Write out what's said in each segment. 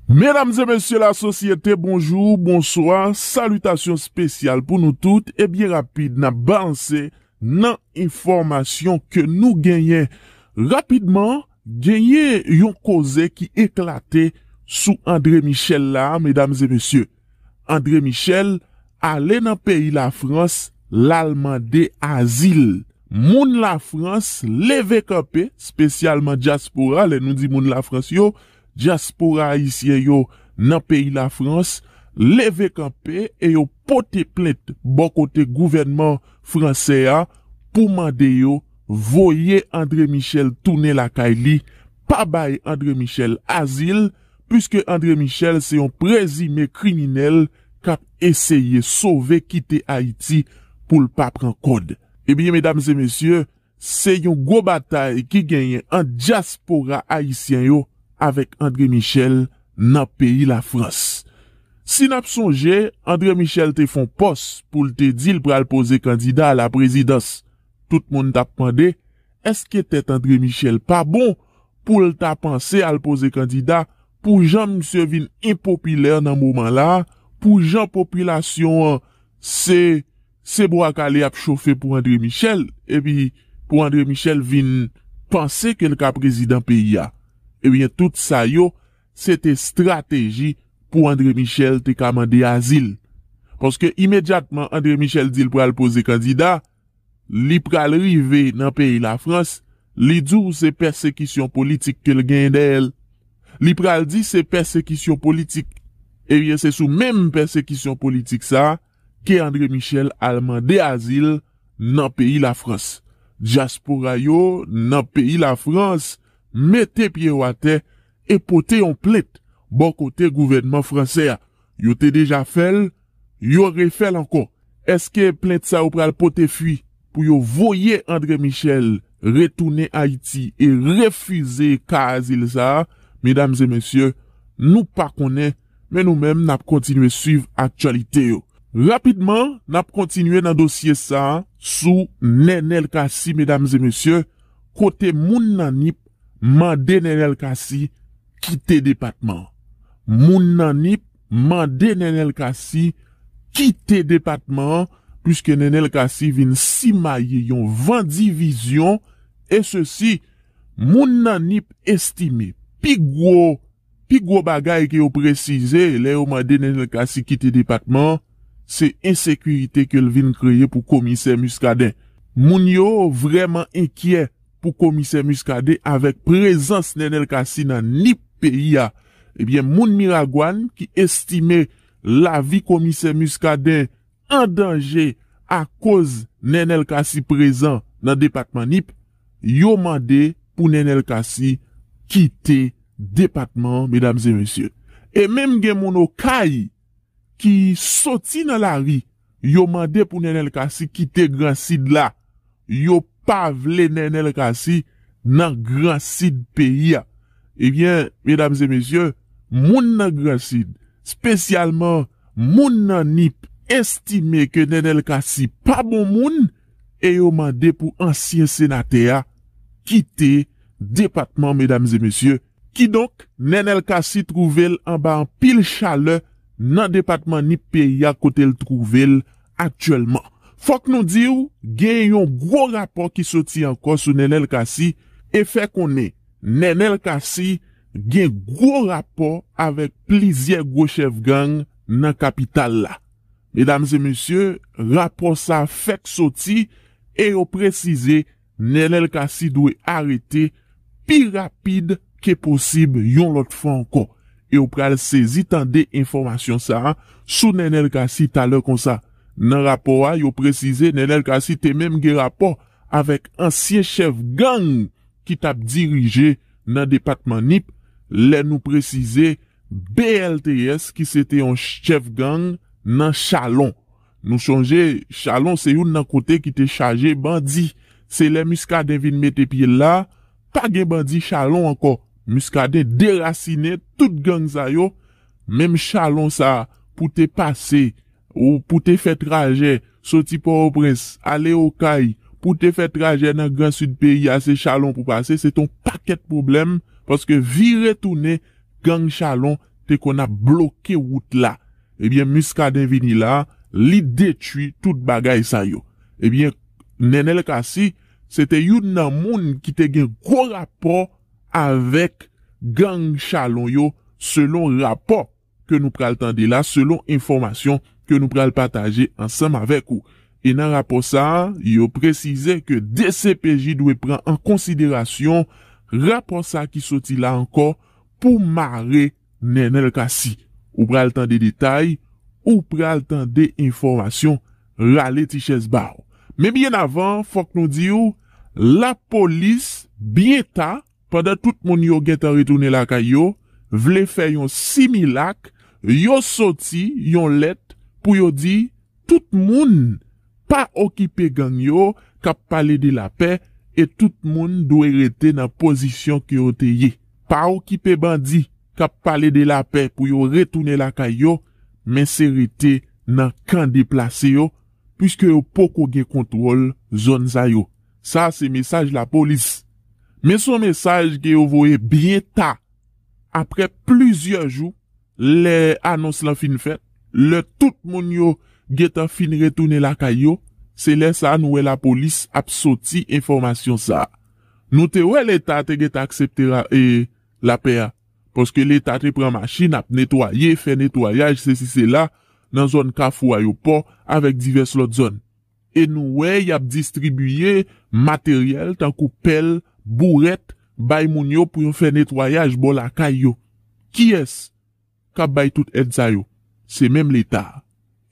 Medam e mesye la sosyete bonjou, bonswa, salitasyon spesyal pou nou tout e byen rapid nap balanse nan enfòmasyon ke nou genyen rapidman Genyen yon koze ki eklate sou Andre Michel la a medam e mesye. Andre Michel ale nan peyi Lafrans lal mande azil. Moun Lafrans leve kanpe, spesyalman dyaspora, lè nou di moun Lafrans yo, Dyaspora ayisyen yo nan peyi Lafrans leve kanpe e yo pote plent bò kote gouvènman fransè a pou mande yo voye André Michel tounen lakay li, pa bay André Michel azil, puiske André Michel se yon prezime kriminèl k ap eseye sove kite Ayiti pou l pa pran kòd. Ebyen medam e mesye, Se yon gwo batay ki genyen ant dyaspora ayisyen yo avèk André Michel nan peyi Lafrans. Si n ap sonje, André Michel te fon pòs pou l te di l pral poze kandida alaprezidans. Tout moun t ap mande, èske tèt André Michel pa bon pou l ta panse al poze kandida pou jan misye vin enpopilè nan moman la, pou jan popilasyon an se. Se bwa kale yap chofe pou Andre Michel epi pou Andre Michel vin panse ke l ka prezidan peyi a. Ebyen tout sa yo se te strateji pou Andre Michel te ka mande azil. Paske imedyatman Andre Michel di l pral poze kandida, li pral rive nan peyi Lafrans, li di w se pèsekisyon politik ke l genyen dèyè l. Li pral di se pèsekisyon politik. Ebyen se sou menm pèsekisyon politik sa a ke André Michel al mande azil nan peyi Lafrans. Dyaspora yo nan peyi Lafrans mete pye yo atè e pote yon plent bò kote gouvènman fransè a. Yo te deja fè l, yo refè l ankò. Eske plent sa yo pral pote fwi pou yo voye André Michel retounen Ayiti e refize ka azil sa a? Medam e mesye, nou pa konnen. Men nou menm n ap kontinye swiv aktyalite yo. Rapidman, n ap kontinye nan dosye sa a sou Nenel Cassy medam e mesye, kote moun nan nip mande Nenel Cassy kite depatman an. Moun nan nip mande Nenel Cassy kite depatman an puiske Nenel Cassy vin simaye yon van divizyon e sesi moun nan nip estime pi gwo Pi gwo bagay ke yo presize lè yo mande Nenel Cassy kite depatman an, se ensekirite ke l vin kreye pou Komisè Muscadin. Moun yo vrèman enkyè pou Komisè Muscadin avèk prezans Nenel Cassy nan Nip peyi a. Ebyen moun Miragwàn ki estime lavi Komisè Muscadin an danje akoz Nenel Cassy prezan nan depatman Nip, Yo mande pou Nenel Cassy kite depatman an medam e mesye. E menm gen moun Okay ki soti nan lari yo mande pou Nenel Cassy kite gran sid la. Yo pa vle Nenel Cassy nan gran sid peyi a. Ebyen medam e mesye moun nan gran sid spesyalman moun nan Nip estime ke Nenel Cassy pa bon moun e yo mande pou ansyen senatè a kite depatman medam e mesye, kidonk Nenel Cassy twouve l anba anpil chalè nan depatman Nip peyi a kote l twouve l aktyèlman. Fòk nou di w gen yon gwo rapò ki soti ankò sou Nenel Cassy e fè konnen Nenel Cassy gen gwo rapò avèk plizyè gwo chèf gang nan kapital la. Medam e mesye, rapò sa fèk soti e yo presize Nenel Cassy dwe arete pi rapid ke posib yon lòt fwa ankò. E w pral sezi tande enfòmasyon sa sou Nenel Cassy talè konsa. Nan rapò a yo presize Nenel Cassy te menm gen rapò avèk ansyen chèf gang ki t ap dirije nan depatman Nip lè nou presize BLTS ki se te yon chèf gang nan Chalon. Nou sonje Chalon se youn nan kote ki te chaje bandi. Se lè Muscadin vin mete pye l la, pa gen bandi Chalon ankò. Muscadin derasinen tout gang sa yo. Menm Chalon sa pou te pase Ou pou te fè trajè soti Pòtoprens ale Okay, pou te fè trajè nan gran Sid peyi a se Chalon pou pase, se te yon pakèt pwoblèm paske vire tounen gang Chalon te konn ap bloke wout la. Ebyen Muscadin vini la, li detwi tout bagay sa yo. Ebyen Nenel Cassy se te youn nan moun ki te gen gwo rapò avèk gang Chalon yo selon rapò ke nou pral tande la selon enfòmasyon ke nou pral pataje ansanm avèk ou. E nan rapò sa a, yo presize ke dcpj dwe pran an konsiderasyon rapò sa ki soti la ankò pou mare Nenel Cassy. Ou pral tande detay, ou pral tande enfòmasyon, rale ti chèz ba w. Men byen avan, fòk nou di w, lapolis byen ta, Pandan tout moun yo gentan retounen lakay yo, vle fè yon similak, yo soti yon lèt pou yo di tout moun pa okipe gang yo k ap pale de lapè e tout moun dwe rete nan pozisyon ke yo te ye. Pa okipe bandi k ap pale de lapè pou yo retounen lakay yo, men se rete nan kan deplase yo, Pwiske yo poko gen kontwòl zòn sa yo. Sa se mesaj lapolis. Men son mesaj ke yo voye byen ta aprè plizyè jou lè anons lan fin fèt, lè tout moun yo gentan fin retounen lakay yo, se lè sa nou wè lapolis ap soti enfòmasyon sa. Nou te wè leta te gentan aksepte lapè a. Paske leta te pran machin ap netwaye, fè netwayaj sesi sela nan zòn kafou ayopò avèk divès lòt zòn. E nou wè y ap distribiye materyèl tankou pèl, bourèt bay moun yo pou yo fè netwayaj bò lakay yo. Kiyès k ap bay tout èd sa yo? Se menm leta a.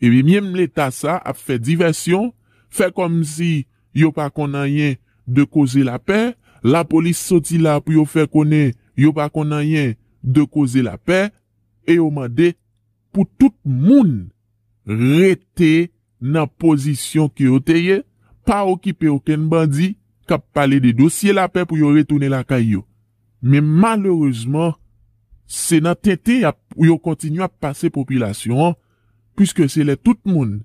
Epi menm leta sa ap fè divèsyon, fè kòmsi yo pa konn anyen de koze lapè, lapolis soti la pou yo fè konnen yo pa konn anyen de koze lapè e yo mande pou tout moun rete nan pozisyon ke yo te ye, pa okipe okenn bandi k ap pale de dosye lapè pou yo retounen lakay yo. Men malerezman se nan tenten y ap yo kontinye ap pase popilasyon an Piske se lè tout moun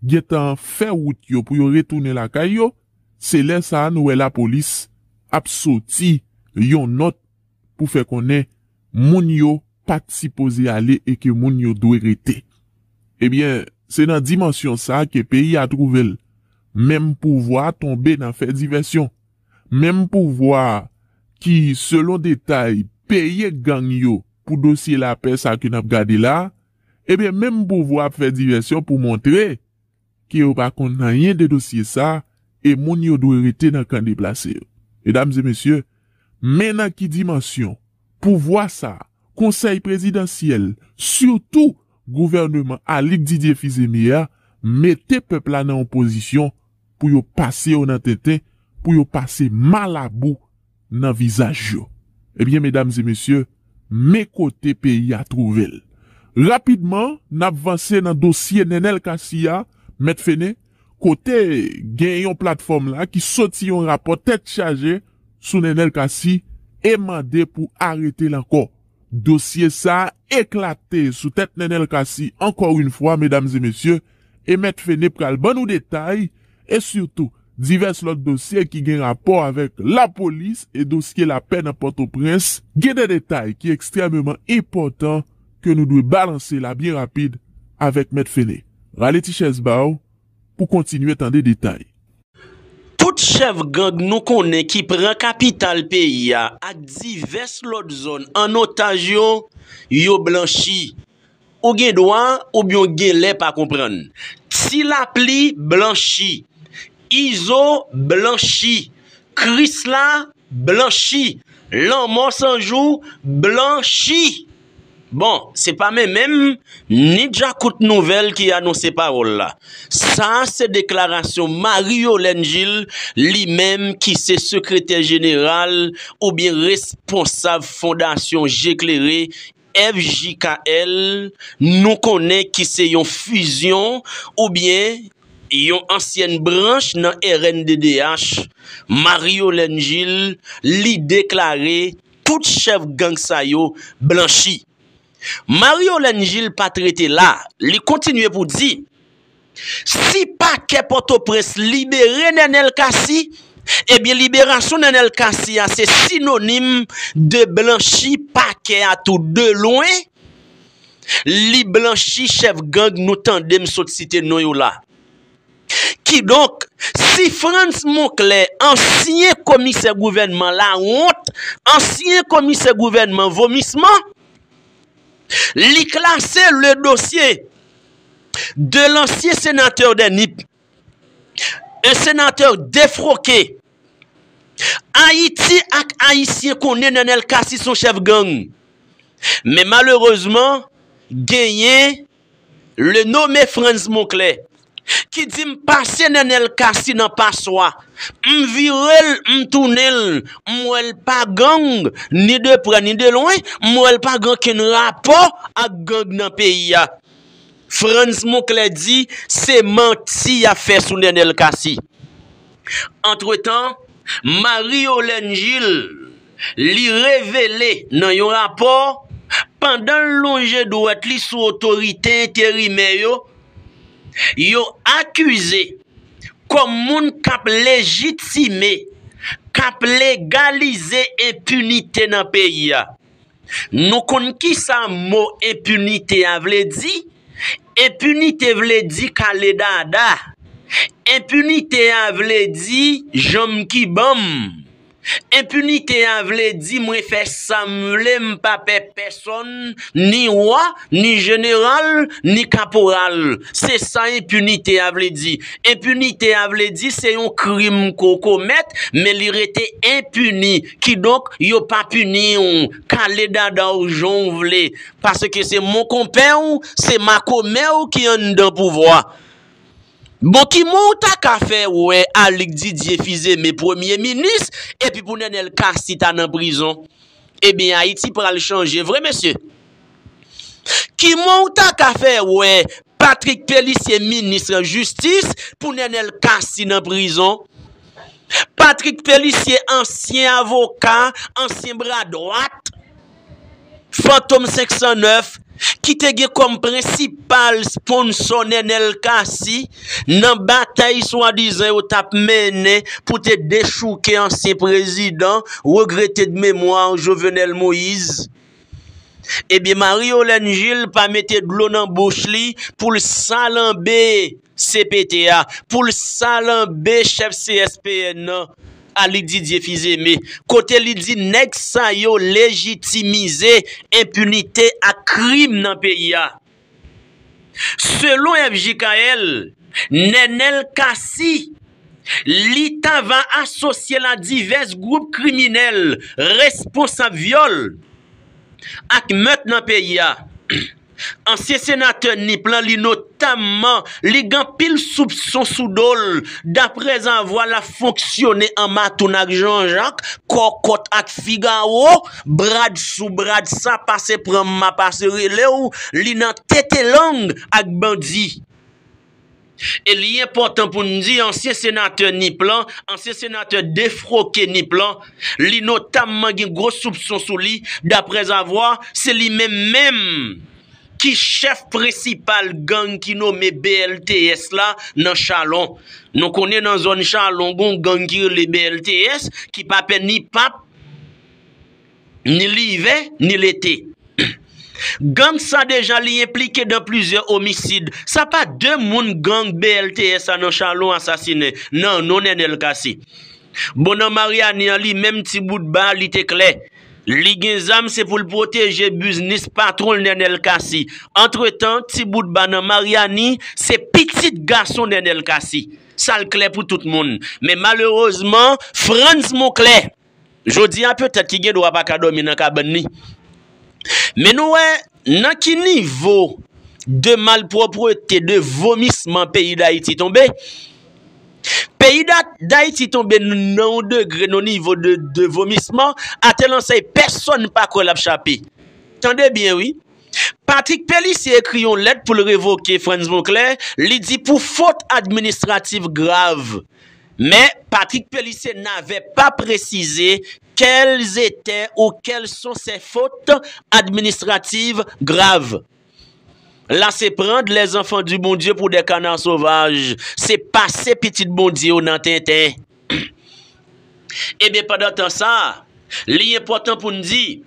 gen tan fè wout yo pou yo retounen lakay yo, se lè sa a nou wè lapolis ap soti yon nòt pou fè konnen moun yo pa t sipoze ale e ke moun yo dwe rete. Ebyen, se nan dimansyon sa a ke peyi a twouve l. Menm pouvwa a tonbe nan fè divèsyon. Menm pouvwa a ki, selon detay, peye gang yo pou dosye lapè sa a ke n ap gade la a, Ebyen menm pouvwa ap fè divèsyon pou montre ke yo pa konn anyen de dosye sa e moun yo dwe rete nan kan deplase yo. Medam e mesye, men nan ki dimansyon pouvwa sa, konsèy prezidansyèl, sitou gouvèneman Alix Didier Fils-Aimé a mete pèp la nan yon pozisyon pou yo pase yo nan tenten, pou yo pase malabou nan vizaj yo. Ebyen medam e mesye, men kote peyi a twouve l. Rapidman, n ap vanse nan dosye Nenel Cassy a, Mèt Fene, kote gen yon platfòm la ki soti yon rapò tèt chaje sou Nenel Cassy e mande pou arete l ankò. Dosye sa eklate sou tèt Nenel Cassy ankò yn fwa medam e mesye. e Mèt Fene pral ban nou detay e sitou divès lòt dosye ki gen rapò avèk lapolis e dosye lapè nan Pòtoprens, gen de detay ki ekstrèmeman enpòtan ke nou dwe balanse la byen rapid avèk Mèt Fene. Rale ti chèz ba w pou kontinye tande detay. Tout chèf gang nou konnen ki pran kapital peyi a ak divès lòt zòn an otaj yo, yo blanchi. Ou gen dwa oubyen w gen lè pa konprann. Tilapli blanchi. Izo blanchi. Krisla blanchi. Lanmò san jou blanchi. Bon, se pa men menm, ni djakout nouvèl ki anonse pawòl la. Sa a se deklarasyon Marie Yolène Gilles, li menm ki se sekretè jeneral oubyen responsab fondasyon Je Klere FJKL, Nou konnen ki se yon fizyon oubyen yon ansyèn branch nan rnddh, Marie-Yolène Gilles, li deklare tout chèf gang sa yo blanchi. Marie-Yolène Gilles pa t rete la, li kontinye pou di, Si pakè Pòtoprens libere Nenel Cassy, ebyen liberasyon Nenel Cassy a se sinonim de blanchi pakè a tou de lwen, li blanchi chèf gang nou tande m sot site non yo la. Kidonk, si Frantz Monclair, ansyen komisè gouvènman lawont, ansyen komisè gouvènman vomisman, li klase le dosye, de lansye senatè dè Nip, en senatè defroke, Ayiti ak Ayisyen konnen Nenel Cassy son chèf gang, men malerezman genyen le nome Frantz Monclè ki di m pase Nenel Cassy nan paswa, m vire l m tounen l m wè l pa gang ni de prè ni de lwen, m wè l pa gen okenn rapò ak gang nan peyi a. Frantz Monclè di se manti y ap fè sou Nenel Cassy. Antretan, Marie Yolène Gilles li revele nan yon rapò, pandan l lonje dwèt li sou otorite enterimè yo, yo akize kòm moun k ap lejitime, k ap legalize enpinite nan peyi a. Nou konn ki sa mo enpinite a vle di? Enpinite vle di kale dada. Enpinite a vle di janm ki banm. Enpinite a vle di mwen fè sa m vle m pa pè pèsonn, ni wa, ni jeneral, ni kaporal. Se sa enpinite a vle di. Enpinite a vle di se yon krim ke w komèt men li rete enpini. Kidonk, yo pa pini w, kale dada w jan w vle, paske se monkonpè w, se makomè w ki anndan pouvwa. Bon, ki mo w ta ka fè wè Alig Didye Fizeme premye minis, epi pou Nènèl Kasi ta nan prizon? Ebyen, Ayiti pral chanje vre, mesye! Kiman ou ta ka fè wè Patrick Pélissier minis jistis pou Nenel Cassy nan prizon? Patrick Pélissier ansyen avoka, ansyen bra dwat Fantom 509 ki te gen kòm prensipal sponsò Nenel Cassy nan batay swadizan yo t ap mennen pou te dechouke ansyen prezidan regrete de memwa Jovenel Moïse. Ebyen Marie Holène Gilles pa mete dlo nan bouch li pou l salanbe cpt a, pou l salanbe chèf CSPN nan Alix Didier Fils-Aimé kote li di nèg sa yo lejitimize enpinite ak krim nan peyi a. Selon FJKL, Nenel Cassy, li ta va asosye l a divès gwoup kriminèl responsab vyòl ak mèt nan peyi a. Ansyen senatè Nip lan li notamman li gen anpil soupson sou do l daprèzavwa l ap fonksyone an matoun ak Janjak, Kòkòt ak Figawo Brad sou brad sa pase pranm ma pase relew li nan tete lang ak bandi. E li enpòtan pou n di ansyen senatè Nip lan, ansyen senatè defroke Nip lan, li notamman gen gwo soupson sou li daprèzavwa se li menm menm ki chèf prensipal gang ki nome BLTS la nan Chalon. Nou konnen nan zòn Chalon gon gang ki rele BLTS ki pa pè ni pa. ni livè ni lete. Gang sa deja li enplike dan plizyè omisid. Sa pa 2 moun gang BLTS sa nan Chalon asasinen nan non Nenel Cassy. Bon nan Mariani an li menm ti bout ba li te klè. Li gen zam se pou l pwoteje biznis patron l Nenel Cassy. Antretan ti bout ba nan Mariani se pitit gason Nenel Cassy. Sa l klè pou tout moun. Men malerezman Frantz Monclair. Jodi a petèt ki gen dwa pa ka dòmi nan kabann li. Men nou wè nan ki nivo de malpwoprete, de vomisman peyi Dayiti tonbe. Peyi Dayiti tonbe nan yon degre, nan yon nivo de vomisman a tèl ansèy pèsòn pa kwè l ap chape. Tande byen wi! Patrick Pélissier ekri yon lèt pou l revoke Frantz Bonclé, li di pou fot administratif grav. Men, Patrick Pélissier nave pa presize kèl zete ou kèl son sè fot administrativ grav. La se prand lè zanfan di Bondye pou dè kanar sovaj, se pase pitit Bondye yo nan tenten. Eben pandan tan sa, li enpòtan pou n di,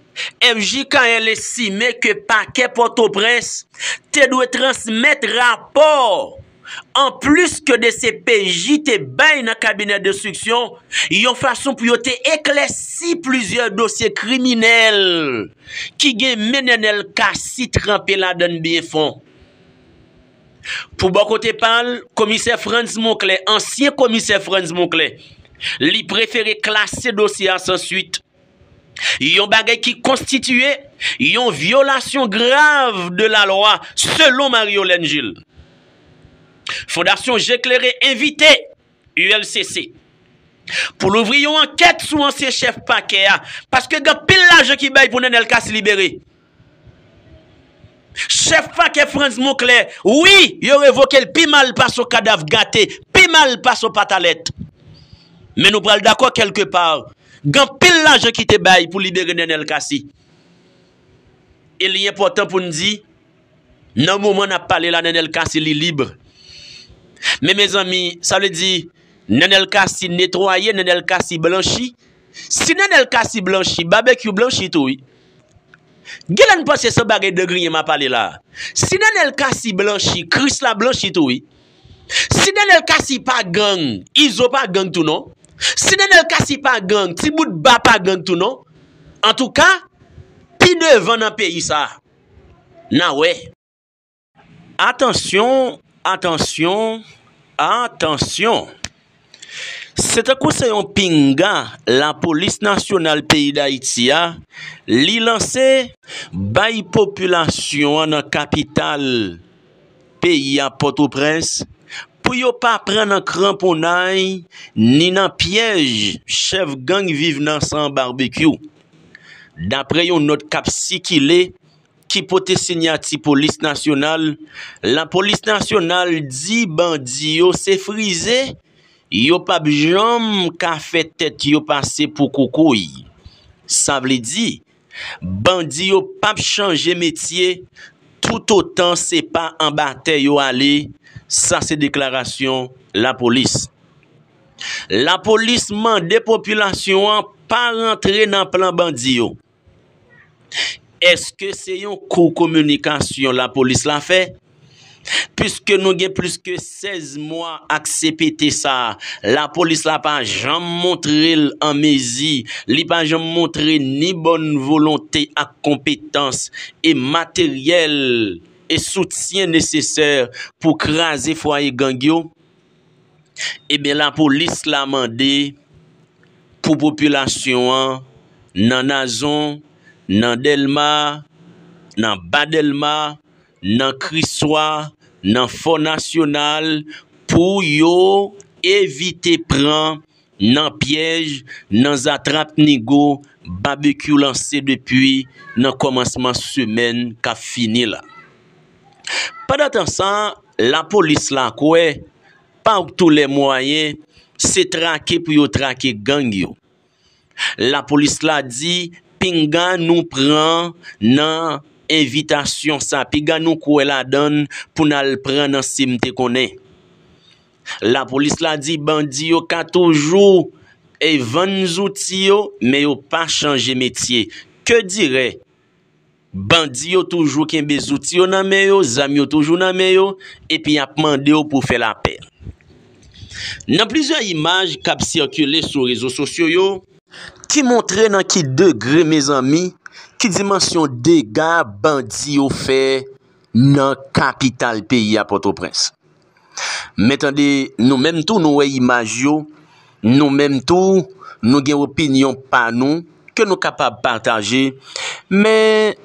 FJKL estime ke Pakè Pòtoprens te dwe transmèt rapò. Anplis ke dcpj te bay nan kabinè denstriksyon yon fason pou yo te eklèsi plizyè dosye kriminèl ki gen men Nenel Cassy tranpe ladan n byen fon. Pou bò kote pa l, komisè Frantz Monclé, ansyen komisè Frantz Monclé, li prefere klase dosye a san swit. Yon bagay ki konstitiye yon vyolasyon grav de lalwa selon Mariolène Jules. Fondasyon Je Klere envite ULCC pou louvri yon ankèt sou ansyen chèf pakè a paske gen anpil lajan ki bay pou Nenel Cassy libere. Chèf pakè Frantz Monclè, Wi, yo revoke l pi mal pase yon kadav gate, pi mal pase yon patalèt. Men nou pral dakò kèlke pa, gen anpil lajan ki te bay pou libere Nenel Cassy. E li enpòtan pou n di, nan moman n ap pale la Nenel Cassy li lib. Men mezanmi, sa vle di, Nenel Cassy netwaye, Nenel Cassy blanchi. Si Nenel Cassy blanchi, Babekyou blanchi tou wi. Genlè n panse se bagay de griyen ma pale la si Nenel Cassy blanchi Chris la blanchi tou wi si Nenel Cassy pa gang Izo pa gang tou non si Nenel Cassy pa gang ti bout ba pa gang tou non antouka pi devan nan peyi sa na wè. Atansyon, atansyon, atansyon! Se tankou se yon pinga lapolis nasyonal peyi Dayiti a, li lanse bay popilasyon an nan kapital peyi a Pòtoprens pou yo pa pran nan kranponnay ni nan pyèj chèf gang Viv nan San Barbecue. Daprè yon nòt k ap sikile. ki pote sinyati polis nasyonal, lapolis nasyonal di bandi yo se frize, yo p ap janm ka fè tèt yo pase pou koukouy. Sa vle di, bandi yo p ap chanje metye toutotan se pa anba tè yo ale, sa se deklarasyon lapolis. Lapolis mande popilasyon an pa rantre nan plan bandi yo. Eske se yon kou kominikasyon lapolis la fè? Piske nou gen plis ke 16 mwa ak CPT sa, lapolis la pa janm montre l an mezi, li pa janm montre ni bòn volonte ak konpetans e materyèl e soutyen nesesè pou kraze fwaye gang yo? Ebyen lapolis la mande pou popilasyon an nan Nazon, nan Dèlma, nan Ba Dèlma, nan Kriswa, nan Fò Nasyonal pou yo evite pran Nan pyèj, nan zatrap nigo, Babekyou lanse depi nan kòmansman semèn k ap fini la. Pandantan sa, lapolis la kwè, pa wtou lè mwayen, se trake pou yo trake gang yo. Lapolis la di, pinga nou pran nan envitasyon sa, piga nou kwè ladan l pou n al pran nan se m te konnen. Lapolis la di bandi yo ka toujou e vann zouti yo men yo pa chanje metye. Ke dirè, bandi yo toujou kenbe zouti yo nan men yo, zam yo toujou nan men yo epi y ap mande w pou fè lapè. Nan plizyè imaj k ap sikile sou rezo sosyo yo, ki montre nan ki degre mezanmi, ki dimansyon dega bandi yo fè nan kapital peyi a Pòtoprens. Men tande, nou menm tou nou wè imaj yo, nou menm tou nou gen opinyon pa nou ke nou kapab pataje, men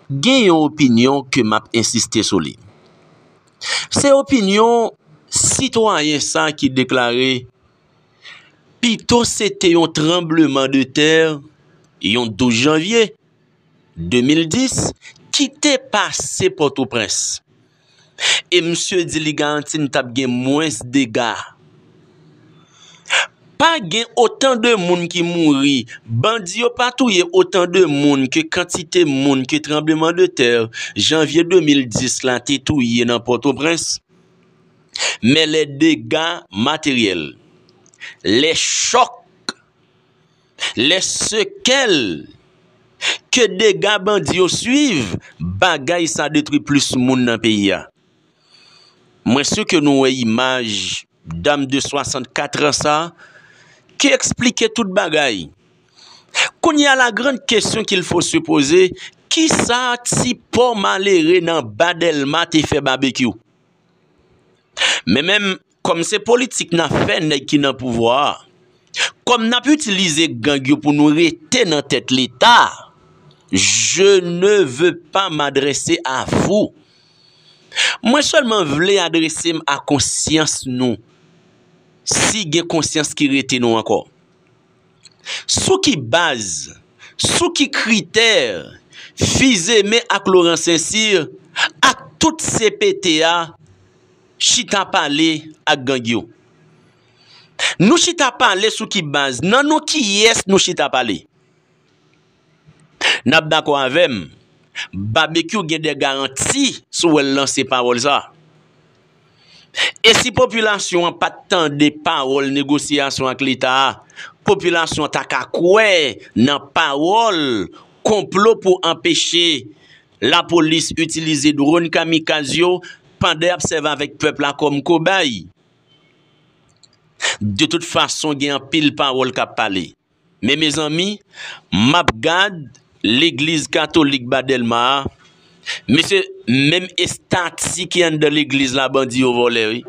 gen yon opinyon ke m ap ensiste sou li. Se opinyon sitwayen sa ki deklare, Pito se te yon tranbleman de tè yon 12 janvye 2010 ki te pase Pòtoprens, e misye di li garanti n t ap gen mwens dega. Pa gen otan de moun ki mouri, bandi yo pa touye otan de moun ke kantite moun ke tranbleman de tè janvye 2010 la te touye nan Pòtoprens. Men lè dega materyèl, lè chòk. Lè sekèl ke dega bandi yo swiv, bagay sa detwi plis moun nan peyi a. Mwen si ke nou wè imaj dam de 64 an sa ki eksplike tout bagay. Kounye a la grand kesyon kil fo se poze, ki sa ti pò malere nan ba Dèlma te fè Babekyou? Men menm Kòm se politik nap fè nèg ki nan pouvwa a, kòm nap itilize gang yo pou nou rete nan tèt leta, je ne veux pas m'adresser à vous. Mwen sèlman vle adrese m a konsyans nou, si gen konsyans ki rete nou ankò. Sou ki baz, sou ki kritè Fils-Aimé ak Laurent Saint-Cyr ak tout cpt a chita pale ak gang yo? Nou chita pale sou ki baz? Nan non kiyès nou chita pale? Nap dakò avèm Babekyou gen de garanti sou wèl lan se pawòl sa. E si popilasyon an pat tande pawòl negosyasyon ak leta a popilasyon an ta ka kwè nan pawòl konplo pou anpeche lapolis itilize dron kamikaz yo pandan yap sèvi avèk pèp la kòm kobay. De tout fason gen anpil pawòl kap pale. Men mezanmi map gad legliz katolik ba delma a mesye menm estati ki anndan legliz la bandi yo vòlè wi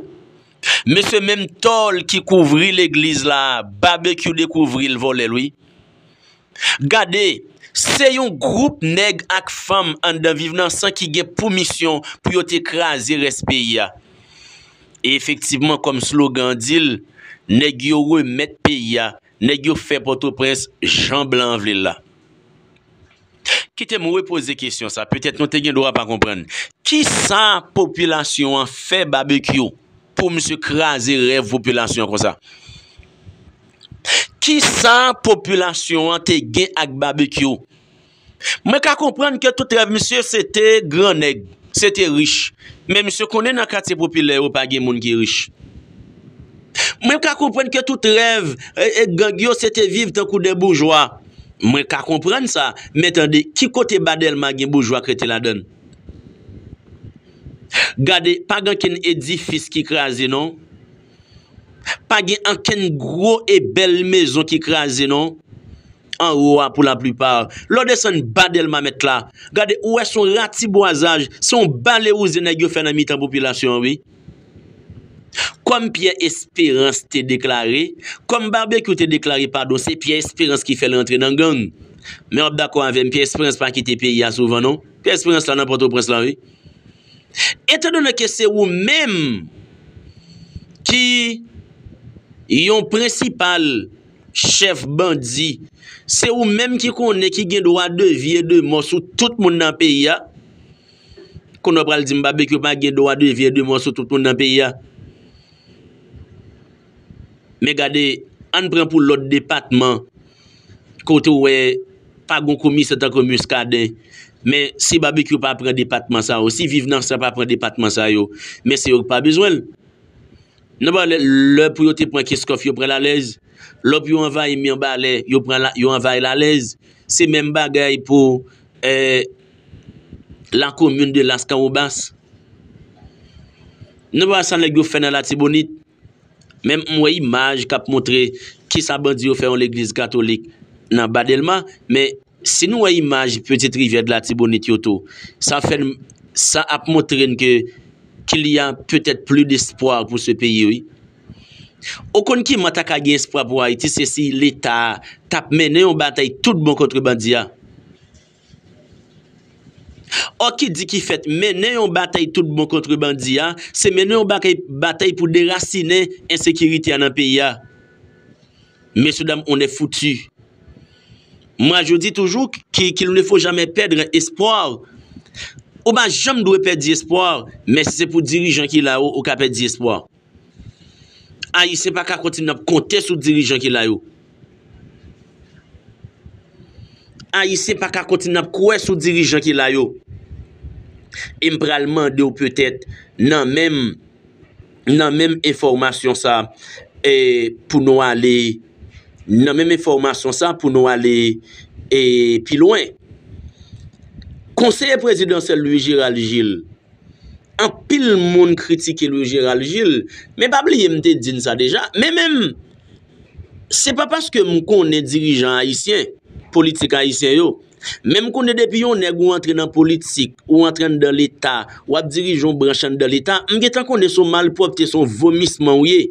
mesye menm tòl ki kouvri legliz la babekyou dekouvri l vòlè l wi gade se yon gwoup nèg ak fanm anndan viv nan san ki gen pou misyon pou yo te kraze rès peyi a e efektivman kòm slogan an di l nèg yo remèt peyi a. Nèg yo fè Pòtoprens jan blan an vle l la. Kite m repoze kesyon sa, petèt nou te gen dwa pa konprann. Ki sa popilasyon an fè Babekyou pou misye kraze rèv popilasyon an konsa? Ki sa popilasyon an te gen ak Babekyou? Mwen ka konprann ke tout rèv misye se te gran nèg, se te rich. Men misye konnen nan katye popilè yo pa gen moun ki rich. Mwen ka konprann ke tout rèv gang yo se te viv tankou de boujwa. Mwen ka konprann sa. Men tande, ki kote ba Dèlma gen boujwa k rete ladann? Gade, pa gen ankenn edifis ki kraze non. Pa gen ankenn gwo e bèl mezon ki kraze non. anwo a pou laplipa. Lè w desann ba Dèlma mèt la, gade ou wè se yon ratibwazaj, se yon balewouze nèg yo fè nan mitan popilasyon an wi. Kòm Pyè Esperans te deklare, kòm Babekyou te deklare padon se Pyè Esperans ki fè l rantre nan gang. Men w ap dakò avè m Pyè Esperans pa kite peyi a souvan non. Pyè Esperans la nan Pòtoprens la wi. Etandone ke se ou menm ki yon prensipal. chèf bandi, se ou menm ki konnen ki gen dwa de vi e de mò sou tout moun nan peyi a, konnen w pral di m Babekyou pa gen dwa de vi e de mò sou tout moun nan peyi a. Men gade, an n pran pou lòt depatman, kote w wè pa gen yon komisè tankou Muscadin, men si Babekyou pa pran depatman sa yo, si Viv nan sa pa pran depatman sa yo, men se yo ki pa bezwen l. Nan balè, lè pou yo te pran Kenscoff, yo pran l alèz. Lò pou yo anvayi Mirbalè, yo pran l, yo anvayi l alèz. Se menm bagay pou la komin de Laskawobas. Nan balè sa nèg yo fè nan Latibonit, menm m wè imaj k ap montre kisa bandi yo fè yon legliz katolik nan Ba Dèlma, men Si nou wè imaj pitit rivyè dlatibonit yo tou sa fè n sa ap montre n ke kil ya petèt pli despwa pou se peyi wi ou konn kiman ta ka gen espwa pou ayiti se si leta tap mennen yon batay tout bon kontre bandi ya ò ki di ki fèt mennen yon batay tout bon kontre bandi ya se mennen yon batay pou derasinen ensekirite ya nan peyi ya. Mesye dam on est foutu. Mwa je di toujou ki kil ne fo jamè pèdre espwar. Ou pa janm dwe pèdi espwar, men si se pou dirijan ki la ou, ou ka pèdi espwar. Ayisyen pa ka kontinye ap konte sou dirijan ki la yo. Ayisyen pa ka kontinye ap kwè sou dirijan ki la yo. E m pral mande ou petèt nan menm. nan menm enfòmasyon sa e pou nou ale nan menm enfòmasyon sa pou nou ale e pi lwen konseye prezidansyèl Louis Gérald Gilles anpil moun kritike Louis Gérald Gilles men pa bliye m te di n sa deja men menm se pa paske m konnen dirijan ayisyen politik ayisyen yo Menm kounye depi yon nèg ou antre nan politik, ou antre anndan leta, ou ap dirije yon branch anndan leta, m gentan konnen se yon malpwòpte, se yon vomisman ou ye.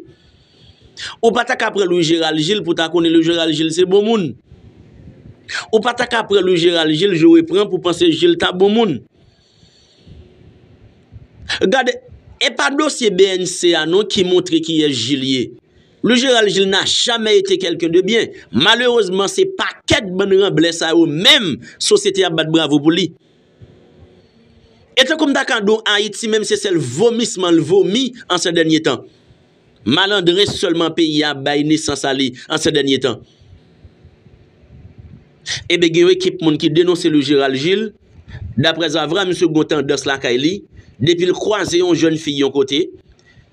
Ou pa ta ka pran Louis Gérald Gilles pou ta konnen Louis Gérald Gilles se bon moun. Ou pa ta ka pran Louis Gérald Gilles jou repran pou panse Gilles ta bon moun. Gade, e pa dosye BNC a non ki montre kiyès Jil ye. Le Général Jil n'a jamais été quelqu'un de bien. Malerezman se pakèt bann ranblè sa yo menm sosyete ap bat bravo pou li. E tankou m ta ka di w Ayiti menm se sèl vomisman l vomi an sè dènye tan. Malandren sèlman peyi a bay nesans a li an sè dènye tan. Enben gen yon ekip moun ki denonse Louis Gérald Gilles, daprè zavra misye gon tandans lakay li, depi l kwaze yon jèn fi yon kote,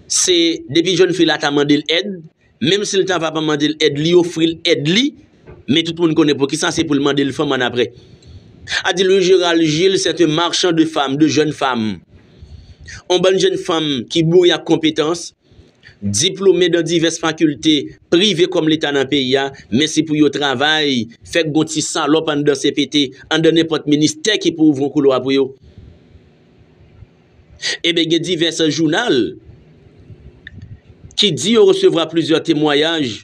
se depi jèn fi la ta mande l èd, menm si l ta va pa mande l èd li ofri l èd li, men tout moun konnen poukisa se pou l mande l fanm annapre. A di Louis Gérald Gilles c'est un marchand de femme, de jeunes femmes. On bann jenn fanm ki boure ak konpetans, diplome dan divès fakilte prive kòm leta nan peyi a, men se pou yo travay, fè k gon ti salòp anndan cpt, anndan nenpòt ministè ki pou ouvri on koulwa pou yo. Eben gen divès jounal ki di yo resevwa plizyè temwayaj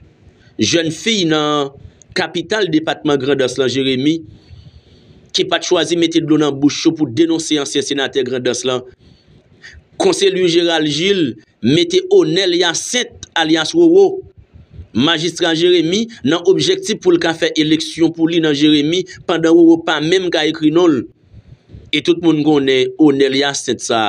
jèn fiy nan kapital depatman Grandans lan, Jeremi, ki pat chwazi mete dlo nan bouch yo pou denonse ansyen senatè Grandans lan, Conselue Gerald Gilles, mete Onel Hyacinthe alyas Roro, Majistra Jeremi, nan objektif pou l ka fè eleksyon pou li nan Jeremi pandan Roro pa menm ka ekri non l. E tout moun konnen Onel Hyacinthe sa